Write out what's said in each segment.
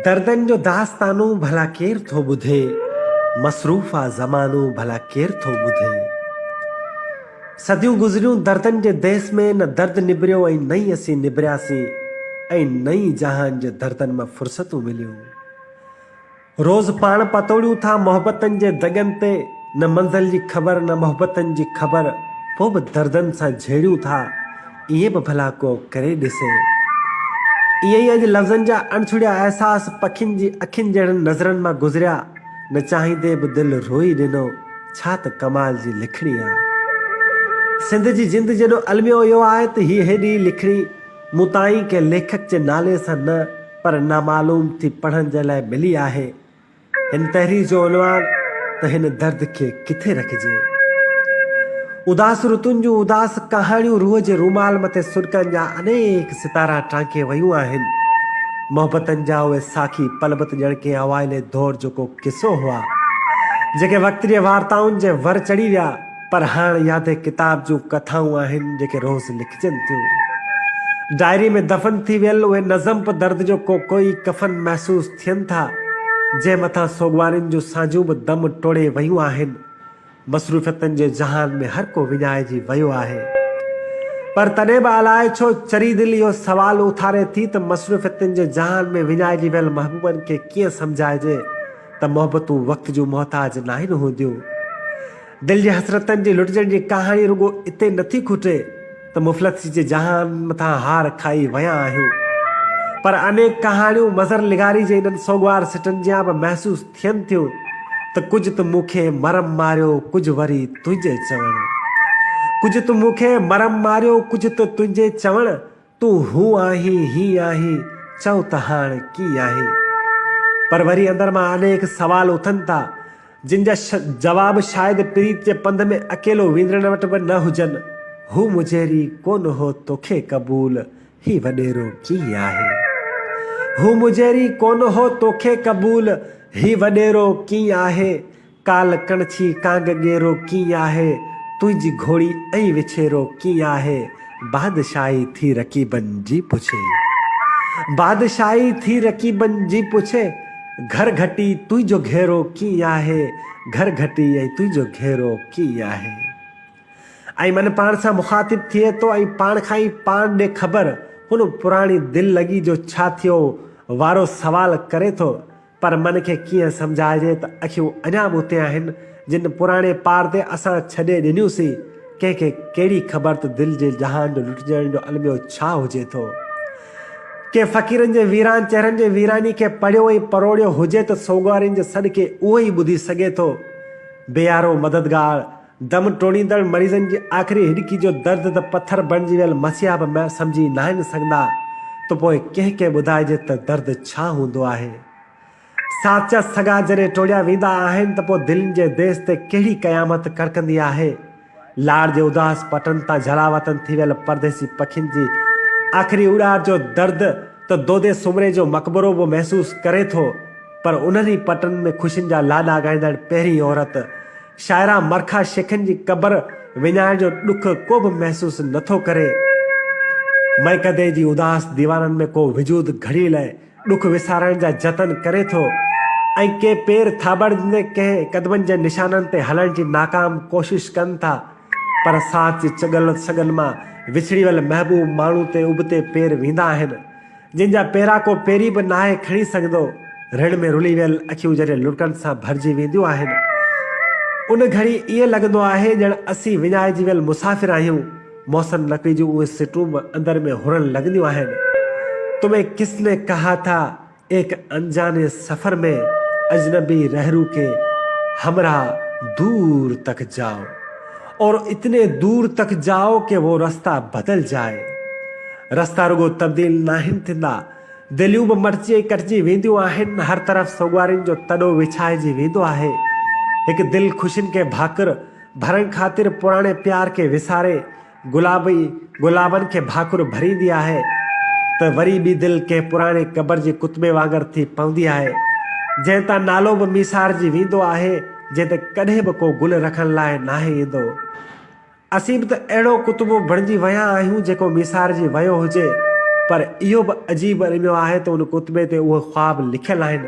دردن جو داستانو ڀلا ڪير ٿو ٻڌي مصروف آ زمانو ڀلا ڪير ٿو ٻڌي صديون گذريون دردن جي ديس ۾ نه درد نبريو ۽ نه ئي اسين نبرياسين ۽ نه ئي جهان جي دردن مان فرصتون مليون. روز پاڻ پتوڙيون ٿا محبتن جي دڳن تي نه منزل جي خبر نه محبتن جي خبر پوء به دردن سان جهيڙيون ٿا ائين به ڀلا ڪو ڪري ڏسي ائين ئي اڄ لفظن جا اڻڇڙيا احساس پکين جي اکين جهڙن نظرن مان گذريا نه چاهيندي به دل روئي ڏنو ڇا ته ڪمال جي لکڻي آ سنڌ جي جند جيڏو الميو اهو آهي ته هي هيڏي لکڻي مون تائين ڪنهن ليکڪ جي نالي سان نه پر نامعلوم ٿي پڙهڻ جي لاء ملي آهي. هن تحرير جو عنوان ته هن درد کي ڪٿي رکجي. اداس رتن جون اداس ڪهاڻيون روح جي رومال مٿي سڏڪن جا انيڪ ستارا ٽانڪي ويون آهن. محبتن جا اهي ساکي پل به ته ڄڻ ڪنهن اوائلي دور جو ڪو قصو هئا، جيڪي وقت جي وارتائن جي ور چڙهي ويا. پر هاڻ يا ته ڪتاب جون ڪٿائون آهن جيڪي روز لکجن ٿيون. ڊائري ۾ دفن ٿي ويل اهي نظم به درد جو ڪوڪوئي ڪفن محسوس ٿين ٿا، جنهن مٿان سوڳوارين جون سانجهون به دم ٽوڙي ويون آهن. مصروفيتن جي جهان ۾ هر ڪو وڃائجي ويو آهي. پر تڏهن به الاء ڇو چري دل اهو سوال اٿاري ٿي ته مصروفيتن جي جهان ۾ وڃائجي ويل محبوبن کي ڪيئن سمجهائجي ته محبتون وقت جون محتاج ناهن هونديون. دل جي حسرتن جي لٽجڻ جي ڪهاڻي رڳو اتي نه ٿي کٽي ته مفلسي جي جهان مٿان هار کائي ويا آهيون پر انيڪ ڪهاڻيون مظهر لغاري جي انهن سوڳوار سٽن جيان به محسوس ٿين ٿيون ته ڪجهه ته مون کي مرم ماريو ڪجهه وري تنهنجي چوڻ ڪجهه ته مون کي مرم ماريو ڪجهه ته تنهنجي چوڻ تون هو آهين، هي آهين، چئو ته هاڻ ڪي آهين؟ پر وري اندر مان انيڪ سوال اٿن ٿا، جن جا جواب شايد پريت جي پنڌ ۾ اڪيلو ويندڙن وٽ به نه هجن، هو مجهري ڪونه هو توکي قبول، هي وڏيرو ڪي آهي؟ هو مجهري ڪونه هو توکي قبول، هي وڏيرو ڪي آهي؟ ڪال ڪڻڇي ڪانگ ڳيرو ڪيئن آهي، تنهنجي گهوڙي ۽ وڇيرو ڪيئن آهي، بادشاهي ٿي رقيبن جي پڇي. بادشاهي ٿي رقيبن جي پڇي، گهر گهٽي تنهنجو گهيرو ڪيئن آهي، گهر گهٽي ۽ تنهنجو گهيرو ڪيئن آهي. ۽ من پاڻ سان مخاطب ٿئي ٿو ۽ پاڻ کان ئي پاڻ ڏي خبر، هن پراڻي دل لڳي جو ڇا ٿيو وارو سوال ڪري ٿو، پر من کي ڪيئن سمجهائجي ته اکيون اڃا به اتي آهن، جن پراڻي پار تي اسان ڇڏي ڏنيون سين. ڪنهن کي ڪهڙي خبر ته دل جي جهان جو لٽجڻ جو الميو ڇا هجي ٿو. ڪنهن فقيرن جي ويران چهرن جي ويراني کي پڙهيو ۽ پروڙيو هجي ته سوڳوارين جي سڏ کي اهو ئي ٻڌي سگهي ٿو. بيارو مددگار! دم ٽوڙيندڙ مريضن جي آخري هڏڪي جو درد ته پٿر بڻجي ويل مسيحا به م سمجهي ناهن سگهندا ته پوء ڪنهن کي ٻڌائجي ته درد ڇا هوندو آهي. ساچا سڳا جڏهن ٽوڙيا ويندا آهن ته پوء دلين جي ديس تي ڪهڙي قيامت ڪڙڪندي آهي. لاڙ جي اداس پٽن تان جهڙا وطن ٿي ويل پرديسي پکين جي آخري اڏار جو درد ته دودي سومري جو مقبرو به محسوس ڪري ٿو پر انهن ئي پٽن ۾ خوشين جا لاڏا ڳائيندڙ پهرين عورت شاعره مرخا شيخن جي قبر وڃائڻ جو ڏک ڪو به محسوس نه ٿو ڪري. مئڪدي جي اداس ديوارن ۾ ڪو وجود گهڙيء لاء ڏک وسارڻ جا جتن ڪري ٿو ۽ ڪي پير ٿاٻڙندي ڪنهن قدمن جي نشانن تي هلڻ جي ناڪام ڪوشش ڪن ٿا پر ساٿ جي چڳل سڳن مان وڇڙي ويل محبوب ماڻهو تي ابتي پير ويندا آهن. جن جا پيرا ڪو پيري به ناهي کڻي سگهندو، رڙ ۾ رلي ويل اکيون جڏهن لڙڪن سان ڀرجي وينديون آهن، ان گهڙي ائين لڳندو آهي ڄڻ اسين وڃائجي ويل مسافر آهيون، محسن نقوي جون اهي سٽون به اندر ۾ هرڻ لڳنديون آهن، تمهين ڪس ني ڪها ٿا، ايڪ انجاني سفر مين، اجنبي رهرو ڪي همراهه دور تڪ جاؤ. اور اتني دور تڪ جائو ڪي وو رستا بدل جائي رستا رڳو تبديل ناهن ٿيندا دليون به مٽجي ڪٽجي وينديون آهن هر طرف سوڳوارين جو تڏو وڇائجي ويندو آهي هڪ دل خوشين کي ڀاڪر ڀرڻ خاطر پراڻي پيار کي وساري گلابي گلابن کي ڀاڪر ڀريندي آهي ته وري ٻي دل ڪنهن پراڻي قبر جي ڪتبي وانگر ٿي پوندي آهي جنهن تان نالو به ميسارجي ويندو آهي جنهن تي ڪڏهن به ڪو گل رکڻ لاء ناهي ايندو. اسين به ته اهڙو ڪتبو بڻجي ويا آهيون جيڪو ميسارجي ويو هجي. پر اهو به عجيب الميو آهي ته ان ڪتبي تي اهي خواب لکيل آهن،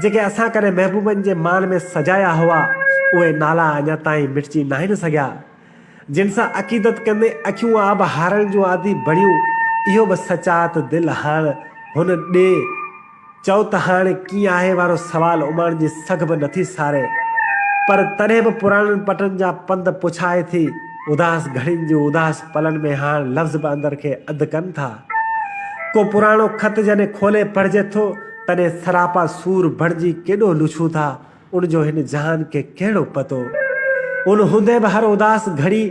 جيڪي اسان ڪڏهن محبوبن جي مان ۾ سجايا هئا، اهي نالا اڃا تائين مٽجي ناهن سگهيا. جن سان عقيدت ڪندي اکيون آب هارڻ جون عادي بڻيون، اهو به سچ آ ته دل هاڻ هن ڏي چئو ته هاڻ ڪيئن آهي وارو سوال اماڻ جي سگهه به نٿي ساري، پر تڏهن به پراڻن پٽن جا پنڌ پڇائي ٿي، اداس گهڙين جون اداس پلن ۾ هاڻ لفظ به اندر کي اڌ ڪن ٿا. ڪو پراڻو خط جڏهن کولي پڙهجي ٿو، تڏهن سراپا سور بڻجي ڪيڏو لڇون ٿا، ان جو هن جهان کي ڪهڙو پتو. ان هوندي به هر اداس گهڙي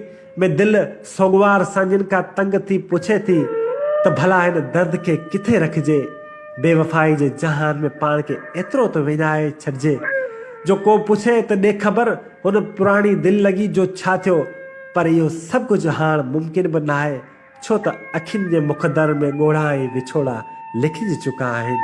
۾ دل سوڳوار سان جن کان تنگ ٿي پڇي ٿي ته ڀلا هن درد کي ڪٿي رکجي. بي وفائي جي جهان ۾ پاڻ کي ايترو ته وڃائي ڇڏجي جو ڪو پڇي ته ڏي خبر هن پراڻي دل لڳي جو ڇا ٿيو. پر اهو سڀ ڪجهه هاڻ ممڪن به ناهي. ڇو ته اکين جي مخدر ۾ ڳوڙها ۽ وڇوڙا لکجي چڪا آهن.